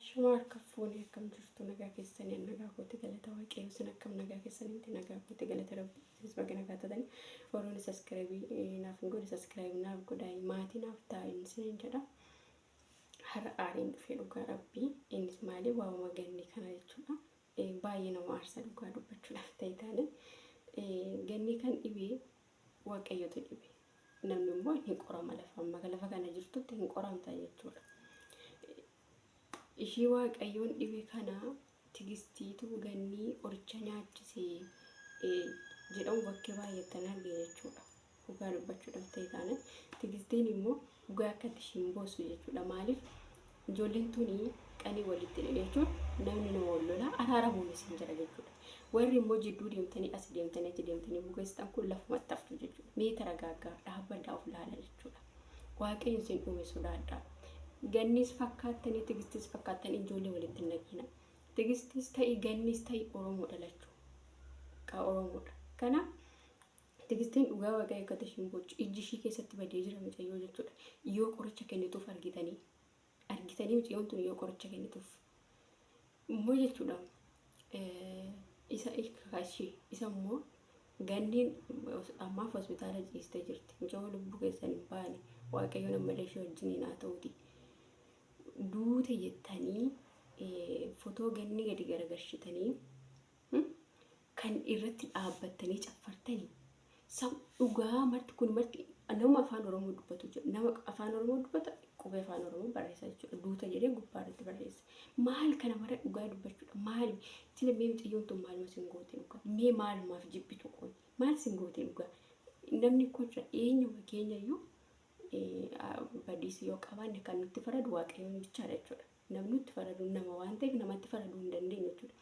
Shama harka fuune akkam jirtu nagaa keessanii an nagaa kooti galata waaqayyo isin akkam nagaa keessanii miti nagaa kooti galata rabbi isinis baga nagaa taatanii warroonni saskiraayibii naaf hin godhe saskiraayibii naaf godhaa maatii naaf taa'in isiniin jedha har'a aariin dhufee dhugaa rabbii innis maali waamama ganni kana jechuudha Eh, baay'ee nama aarsa dhugaa dubbachuudhaaf ta'e taane Eh, ganni kan dhibee waaqayyotu dhibe namni immoo hin qorama lafa amma lafa kana jirtutti hin qoramta jechuudha Ishii waaqayyoon dhibe kana tigistiitu gannii qoricha nyaachise jedhamu bakkee baay'attan arge jechuudha. Dhugaa dubbachuu dhabtee taanaan tigistiin immoo dhugaa akkatti ishiin boossu jechuudha. Maaliif ijoolleen tuni qanii walitti hidhan jechuun namni nama wal lolaa araaramuun isin jira jechuudha. Warri immoo jidduu deemtanii asi deemtanii achi deemtanii bugeessitan kun lafumatti haftu jechuudha. Mee taragaaggaa dhaabbadhaa of laala jechuudha. Waaqayyo isin uume sodaadhaa. Gannis fakkaattanii tigistis fakkaattan ijoollee walitti hin naqina. Tigistis ta'i gannis ta'i Oromoodha lachuu. Kaa Oromoodha. Kana tigistiin dhugaa waaqayyo akka tashiin booccu ijji ishii keessatti badee jira mucayyoo jechuudha. Yoo qoricha kennituuf argitanii. Argitanii miciyoon tun yoo qoricha kennituuf immoo jechuudha isa ilkakashi isa immoo ganniin ammaaf hospitaala ciiste jirti micoo lubbuu keessan hin baane waaqayyoon ammallee ishee wajjiniin haa ta'uuti duute jettanii fotoo ganni gadi garagarshitanii kan irratti dhaabbattanii caffartani sa dhugaa marti kun marti nama afaan oromoo dubbatu jira nama afaan oromoo dubbata qubee afaan oromoo barreessa jechuudha duuta jedhee gubbaa irratti barreessa maal kana mara dhugaa dubbachuudha maali sila mee mucayyoon tun maaluma sin goote dhugaa mee maalumaaf jibbitu kun maal sin goote dhugaa namni koo jira eenyuma keenya iyyuu badiisi yoo qabaanne kan nutti faradu waaqayyoon bichaadha jechuudha Namni nutti faradu nama waan ta'eef namatti faraduu hin dandeenyu jechuudha.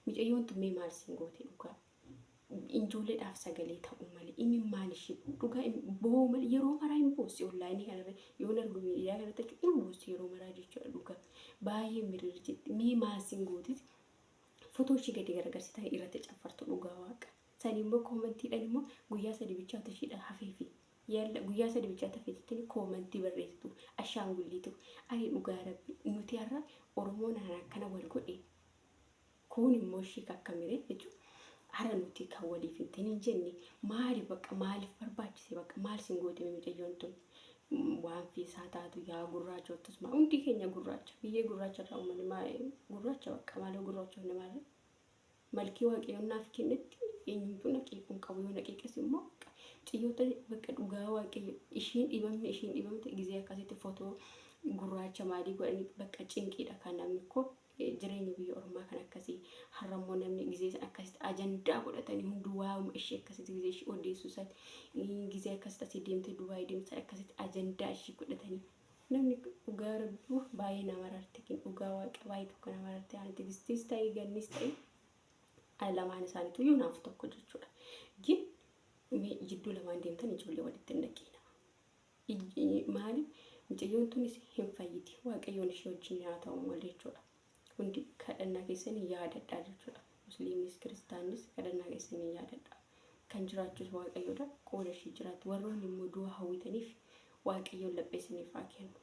Micayyoon tun mee maal siin goote dhugaa? Ijoolleedhaaf sagalee ta'uu malee imimmaan ishee dhugaa im- boo'uu malee yeroo maraa hin boossi onlaayinii kanarra yoon argu miidiyaa kanarratti jechuudha hin boossi yeroo maraa jechuudha dhugaa baay'ee mirir jetti mee maal siin goote fotoo ishii gadi garagarsitanii irratti caffartu dhugaa waaqa. Sanii immoo koomantiidhaan immoo guyyaa sadii bichaatu ishiidha hafeefi. Yalla guyyaa sadi bichaa tafe jettani koomantii barreessitu ashaangulliitu ani dhugaa rabbi nuti har'a oromoon haraan akkana wal godhe kuun immoo ishii kakkamire jechu har'a nuti kan waliif hin ta'in hin jenne maali bakka maaliif barbaachise bakka maal sin gootime mucayyoon tun waan fiisaa taatu yaa gurraachoottus maa hundi keenya gurraacha biyyee gurraacha irraa uummanni maa gurraacha bakka maaloo gurraachoonni maaloo Malkii waaqayyoon naaf kennetti eenyumtuu na qeequu hin qabu yoo na qeeqes immoo xiyyoota bakka dhugaa waaqayyo ishiin dhibamne ishiin dhibamte gizee akkasitti fotoo gurraacha maalii godhanii bakka cinqiidha kan namni koo jireenya biyya ormaa kan akkasii har'a immoo namni gizee san akkasitti ajandaa godhatanii hunduu waa'uma ishii akkasitti gizee ishii odeessuu san gizee akkasitti asii deemtee dubaayii deemtee akkasitti ajandaa ishii godhatanii Namni dhugaa rabbi uuff baay'ee na mararte kin dhugaa waaqa baay'ee tokko na mararte ani tigistiis ta'ii gannis ta'ii ani lamaan isaaniitu iyyuu naaf tokko jechuudha gin mee jidduu lamaan deemtan ijoollee walitti hin naqiina Ij- maaliif mucayyoon tunis hin fayyiti waaqayyoon ishee wajjin haa ta'u malee jechuudha hundi kadhannaa keessanii yaadadhaa jechuudha. Musliimnis kiristaannis kadhannaa keessanii yaadadhaa. Kan jiraachus waaqayyoodha qooda ishii jiraatti. Warroonni immoo du'a hawwitaniif waaqayyoon laphee isiniif haa kennu.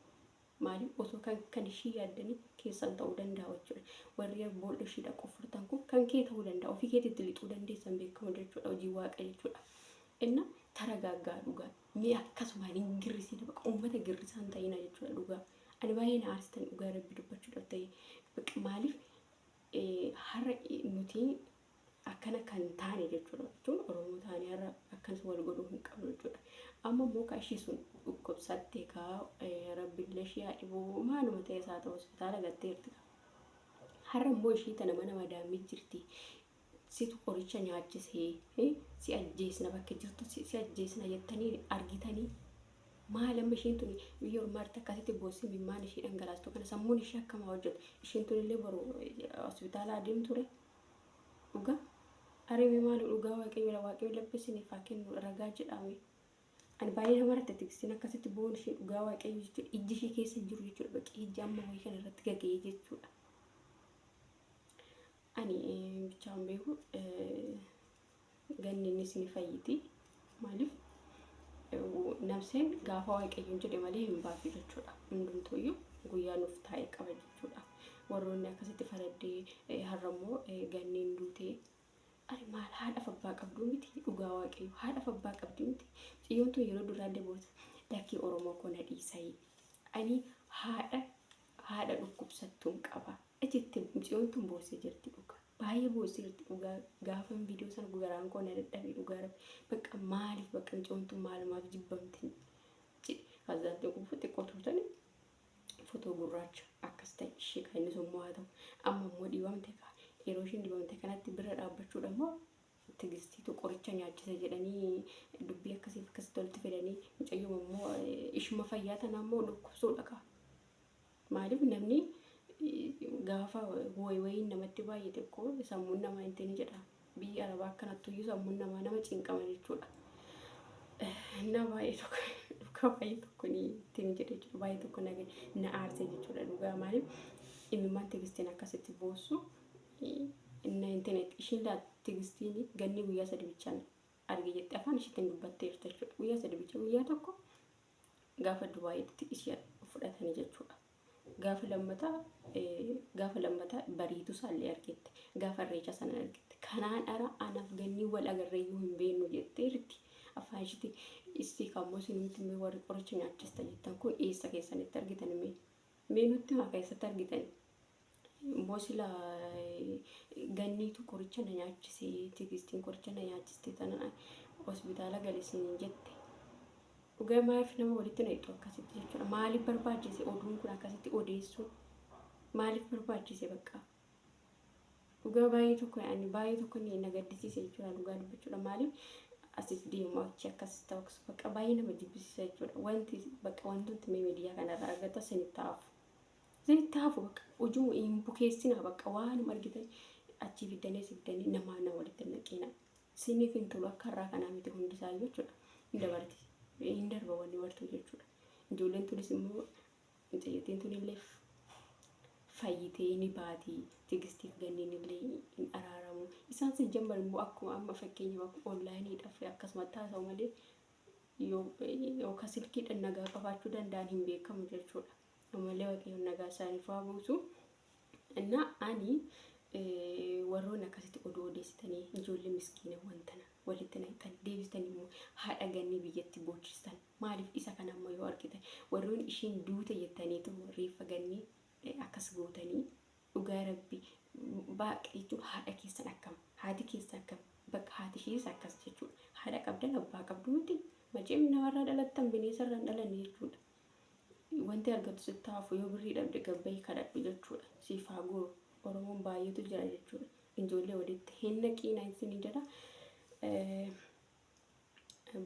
Maaliif osoo kan kan ishii yaaddanii keessan ta'uu danda'a jechuudha. Warri boolla ishii dhaqu furtan kun kan kee ta'uu danda'a. Ofii keetitti lixuu dandeessan beekamu jechuudha hojii waaqa jechuudha. Inna taragaaggaa dhugaa. Mee akkasuma hin girrisina baqa uummata girrisaa hin ta'ina jechuudha dhugaa. Ani baay'ee na aarsitan dhugaa rabbi dubbachuudhaaf ta'e. Baqa maaliif har'a nuti akkana kan taane jechuudha jechuun Oromoo taane har'a akkanas wal godhuu hin qabnu jechuudha. Amma immoo kaa ishii sun dhukkubsatte kaa rabbi illee ishii haa dhibuu maaluma ta'es haa ta'u hospitaala gatteerti kaa. Har'a immoo ishii tana mana madaamii jirti situ qoricha nyaachise si ajjeesna bakka jirtu si ajjeesna jettanii argitanii maal amma ishiin tuni biyya ormaatti akkasitti boossee mimmaan ishii dhangalaastu kana sammuun ishii akkamaa hojjetu ishiin tuni illee boru hospitaala adeem ture dhugaa arime maalu dhugaa waaqayyoodha waaqayyoon labbisiniif haa kennu ragaa jedhaame ani baay'ee nama irratti tikstiin akkasitti boon ishii dhugaa waaqayyo jechuudha ijji ishii keessa hin jiru jechuudha baqee ijji amma wayii kana irratti gaga'ee jechuudha Ani bichaan beeku ganni innis ni fayyiti. Maaliif namseen gaafa waaqayyoon jedhe malee hin baatu jechuudha. Hundumtuu iyyuu guyyaa nuuf taa'e qaba jechuudha. Warroonni akkasitti faraddee har'a immoo ganni hin duutee ani maal haadhaaf abbaa qabduu miti dhugaa waaqayyo haadhaaf abbaa qabdii miti ciyyoon tun yeroo duraa illee boota lakkii oromoo koo na dhiisayii ani haadha haadha dhukkubsattuun qaba Icittin muciyoon tun boosse jirti dhugaa baay'ee boosse jirti dhugaa gaafan viidiyoo sana garaan koo na dadhabe dhugaa rabbi bakka maaliif bakka muciyoon tun maalumaaf jibbamti jedhe kaazaan xiqqoo xiqqoo tuutani fotoo gurraacha akkas ta'e ishee kan inni sommoo haa ta'u amma immoo dibamte kaa yeroo ishiin dibamte kanatti bira dhaabbachuudha immoo tigistiitu qoricha nyaachise jedhanii dubbii akkasiif akkasitti walitti fidanii mucayyoo immoo ishuma fayyaa tanaa immoo dhukkubsuudha kaa Maaliif namni gaafa wayiin namatti baay'ate ko sammuun namaa hin tini jedha. Biyyi arabaa akkanattuyyuu sammuun namaa nama cinqama jechuudha. Na baay'ee tokko dhugaa baay'ee tokko ni tini jedhe jechuudha. Baay'ee tokko na na aarse jechuudha dhugaa maaliif imimmaan tigistiin akkasitti boossu na hin tini ishiin laa tigistiin ganni guyyaa sadi bichaan arge jette afaan ishiitiin dubbatteerta jechuudha. Guyyaa sadi bicha guyyaa tokko gaafa Dubaayitti ishee fudhatanii jechuudha. Gaafa lammataa eh, gaafa lammataa bariitu isaallee argette. Gaafa irreecha sana argette. Kanaan ara anaaf gannii wal agarreeyyuu hin beeknu jettee jirti. Afaan ishiitti issi kammoo isinumti mee warri qoricha nyaachista jettan kun eessa keessanitti argitan mee? Mee nutti himaa keessatti argitani? Immoo sila ganniitu qoricha na nyaachise tigistiin qoricha na nyaachiste tana hospitaala gale siin jette. Dhugaa maaf nama walitti na hidhu akkasitti jechuudha. Maaliif barbaachise oduun kun akkasitti odeessuun? Maaliif barbaachise bakka? Dhugaa baay'ee tokko ani baay'ee tokko ni na gaddisiise jechuudha dhugaa dubbachuudha. Maaliif asis deemu achi akkas ta'u akkas bakka baay'ee nama jibbisiisa jechuudha. Wanti bakka wantooti mee miidiyaa kanarraa argata sinitti hafu. Isin itti hafu bakka ujuu hin bukeessinaa bakka waanuma argitan achii fiddanii si fiddanii namaa na walitti hin naqinaa. Siniif hin tolu akka har'aa kanaa miti hundi isaa jechuudha. Hin dabarti. Hin darba wanni martuu jechuudha. Ijoolleen tunis immoo mucayyottiin tun illee fayyitee ni baati. Tigistiif ganniin illee hin araaramu. Isaan si jambar immoo akkuma amma fakkeenyaaf akkuma onlaayiniidhaaf akkasumatti haasa'u malee yoo yookaan silkiidhaan nagaa qabaachuu danda'an hin beekamu jechuudha. Ammallee Waaqayyoon nagaa isaaniif haa buusu. Innaa ani warroonni akkasitti oduu odeessitanii ijoollee miskiinawwan tana walitti naqxan deebistan immoo haadha gannii biyyatti boochistan maaliif isa kana amma yoo argitan warroonni ishiin duute jettaniitu reeffa gannii akkas gootanii dhugaa rabbi baaqa jechuun haadha keessan akkam haati keessa akkam bakka haati ishiis akkas jechuudha haadha qabdan abbaa qabdu miti maceem namarraa dhalattan bineensarraan dhalanne jechuudha Wanti argattu sitti haa hafu yoo birrii dhabde gad bahi kadhadhu jechuudha. Siif haa guuru. Oromoon baay'eetu jira jechuudha. Ijoollee walitti hin naqiina isinii jedha.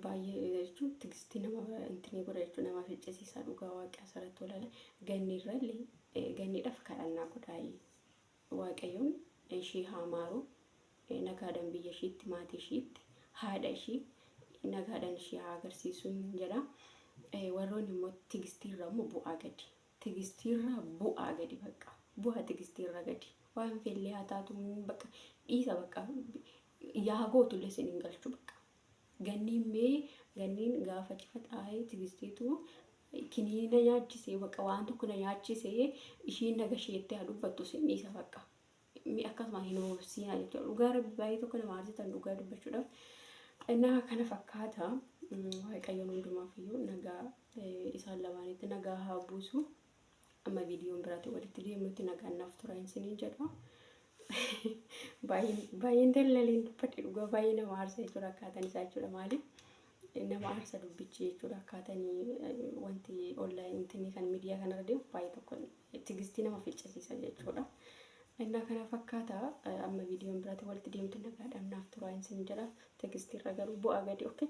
Baay'ee jechuun tigistii nama intinii godha jechuudha nama ficcisiisaa dhugaa waaqaa asirratti walala ganni irrallee ganniidhaaf kadhannaa godhaayii. Waaqayyoon ishii haa maaru nagaadhan biyya ishiitti maatii ishiitti haadha ishii nagaadhan ishii haa agarsiisuun jedha warroonni immoo tigistiirra immoo bu'aa gadi tigistiirra bu'aa gadi bakka bu'aa tigistiirra gadi waan feellee haa taatu bakka dhiisa bakka yaa gootullee isin hin galchu bakka Ganniin mee ganniin gaafa cifa xaa'ee tigistiitu kiniina nyaachise baqa waan tokko na nyaachise ishiin naga isheetti haa dubbattu sin dhiisa baqa mi akkasuma hin hoobsiina jechuudha dhugaa rabbi baay'ee tokko nama aarsitan dhugaa dubbachuudhaaf innaa kana fakkaata waaqayyoon hundumaaf iyyuu nagaa isaan lamaanitti nagaa haa buusu. Amma viidiyoon biraatiin walitti deemnutti nagaan naaf tura hin siniin jedha. Baay'een dallaleen dubbadhe dhugaa baay'ee nama aarsa jechuudha akkaataan isaa jechuudha maali? Nama aarsa dubbichi jechuudha akkaataan wanti onlaayinii kan miidiyaa kanarra deemu baay'ee tokko tigistii nama ficcisiisa jechuudha. Innaa kana fakkaata amma viidiyoon biraatiin walitti deemtu nagaadhaan naaf tura hin siniin jedha. Tigistiirra garuu bu'aa gadi okkee.